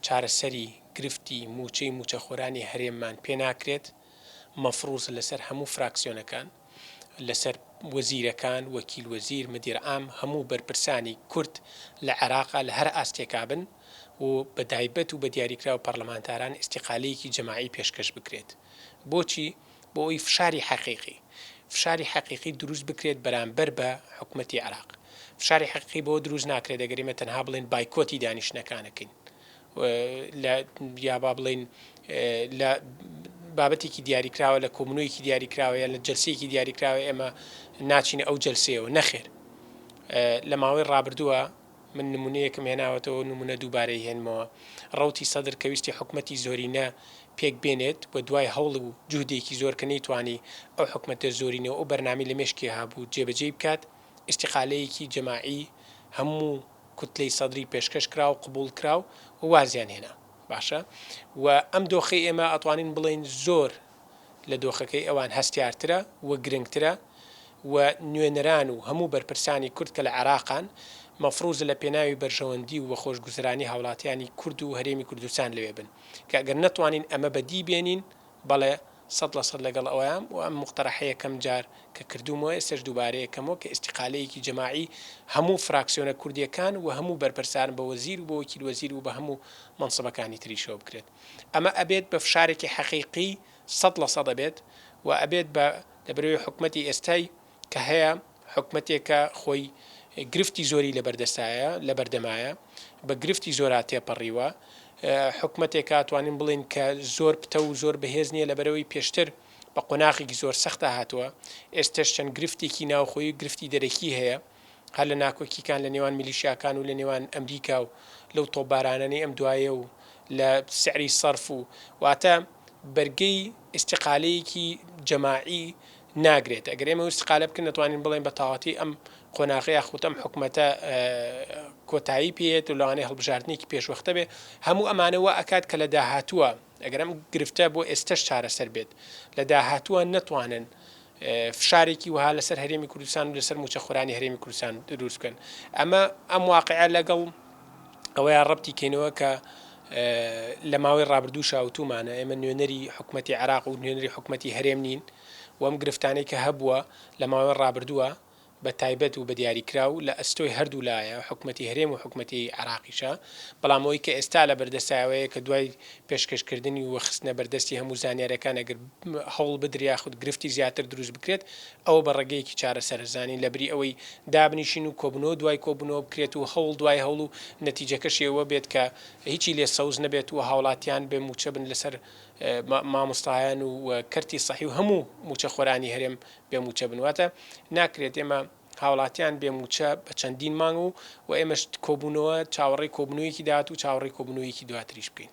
چارەسەری گرفتی مووچەی مووچەخۆرانی هەرێممان پێ ناکرێت، مەفروزە لەسەر هەموو فراکسیۆنەکان، لەسەر وەزیرەکان، وەکیل وەزیر، مدیر عام، هەموو بەرپرسانی کورد لە عێراقا لە هەر ئاستێکا بن و بەدایبەت و بە دیاریکراو پەرلەمانتاران ئیستیقالەیەکی جەماعی پێشکەش بکرێت. بۆچی؟ بۆ ئەوەی فشاری حەقیقی، فشاری حەقیقی دروست بکرێت بەرامبەر بە حکومەتی عێراق. فشاری حەقیقی بەوە دروست ناکرێت ئەگەر ئێمە تەنها بڵێین بایکۆتی دانیشتنەکانەکەین و لە یا با بڵێین لە بابەتێکی دیاریکراوە لە کۆمنۆیەکی دیاریکراوە یا لە جلسەیەکی دیاریکراوە ئێمە ناچینە ئەو جلسەیەوە نەخێر لە ماوەی ڕابردووە من نمونەیەکم هێناوەتەوەو نمونە دووبارەی هێنمەوە ڕەوتی سەدر کە ویستی حکومەتی زۆرینە پێک بێنێت و دوای هەوڵ و جوهدێکی زۆر کە نەیتوانی ئەو حکومەتە زۆرینە و ئەو بەرنامەی لە مێشکی هەبوو جێ بەجێی بکات ئیستیقالەیەکی جەماعی هەموو کوتلەی سەدری پێشکەش کرا و قبوڵ کرا و وازیان هێنا باشە و ئەم دۆخەی ئێمە ئەتوانین بڵێین زۆر لە دۆخەکەی ئەوان هەستیارترە و گرنگترە و نوێنەران و هەموو بەرپرسانی کورد کە لە عێراقن، مەفروزە لە پێناوی بەرژەوەندی و خۆشگوزەرانی هاوڵاتیانی کورد و هەرێمی کوردستان لەوێ بن، کە گەر نەتوانین ئەمە بە دی بێنین، بەڵێ سەد لە سەد لەگەڵ ئەوەیام و ئەم موقتەرەحە یەکەم جار کە کردوومەوە ئێستەش دووبارە یەکەمەوە کە ئیستیقالەیەکی جەماعی هەموو فراکسیۆنە کوردیەکان و هەموو بەرپرسان بە وەزیر و بە وەکیل وەزیر و بە هەموو مەنسبەکانی تریشەوە بکرێت. ئەمە ئەبێت بە فشارێکی حەقیقی سەد لە سەد ئەبێت و ئەبێت بە لە بەرەوی حکومەتی ئێستای کە هەیە حکومەتێکە خۆی گرفتی زۆری لە بەردەستایە لە بەردەمایە بە گرفتی زۆرا تێپەڕیوە حکومەتێکە توانین بڵێن کە زۆر پتە و زۆر بەهێز نییە لە بەرەوەی پێشتر بە قۆناخێکی زۆر سەختا هاتووە ئێستش چەند گرفتێکی ناوخۆی و گرفتی دەرەکی هەیە هەر لە ناکۆکیکان لە نێوان میلیشیاکان و لە نێوان ئەمریکا و لەو تۆپبارانەنەی ئەم دوایە و لە سعری سەرف و واتە بەرگەی ئیستیقالەیەکی جەماعی ناگرێت ئەگەر ئێمە ئیستیقالە بکەین نەتوانین بڵێن بە تەواتی ئەم قۆناغە یاخود ئەم حکومەتە کۆتایی پێت و لەوانەیە هەڵبژاردنێکی پێشوەختە بێ هەموو ئەمانەوە ئەکات کە لە داهاتووە ئەگەرم گرفتە بۆ ئێستش چارەسەر بێت لە داهاتووە نەتوانن فشارێکی وەها لەسەر هەرێمی کوردستان و لەسەر مووچەخۆرانی هەرێمی کوردستان دروست بکەن. ئەمە ئەم واقعە لەگەڵ ئەوەیان ڕەبتی کەینەوە کە لە ماوەی ڕابردووشا وتومانە ئێمە نوێنەری حکومەتی عێراق و نوێنەری حکومەتی هەرێم نین و ئەم گرفتانەی کە هەبووە لە ماوەی ڕابردووە بە تایبەت و بە دیاریکراو لە ئەستۆی هەردوو لایە، حکومەتی هەرێم و حکومەتی عێراقیشە، بەڵام ئەوەی کە ئێستا لە بەردەستە ئەوەیە کە دوای پێشکەشکردنی و خستنە بەردەستی هەموو زانیارییەکان ئەگەر هەوڵ بدرێ یاخود گرفتی زیاتر دروست بکرێت ئەوە بە ڕێگەیەکی چارەسەرە زانین لەبری ئەوەی دابنیشین و کۆبوونەوە دوای کۆبوونەوە بکرێت و هەوڵ دوای هەوڵ و نەتیجەکەشی ئەوە بێت کە هیچی لێ سەوز نەبێت و هاوڵاتیان بێ مووچە بن لەسەر مامۆستایان و کەرتی سەحی و هەموو مووچەخۆرانی هەرێم بێ مووچە بن واتە ناکرێت ئێمە هاوڵاتیان بێ مووچە بە چەندین مانگ و و ئێمەش کۆبوونەوە چاوەڕێی کۆبنوویەکی داهات و چاوەڕێی کۆبنوویەکی دواتریش بکەین.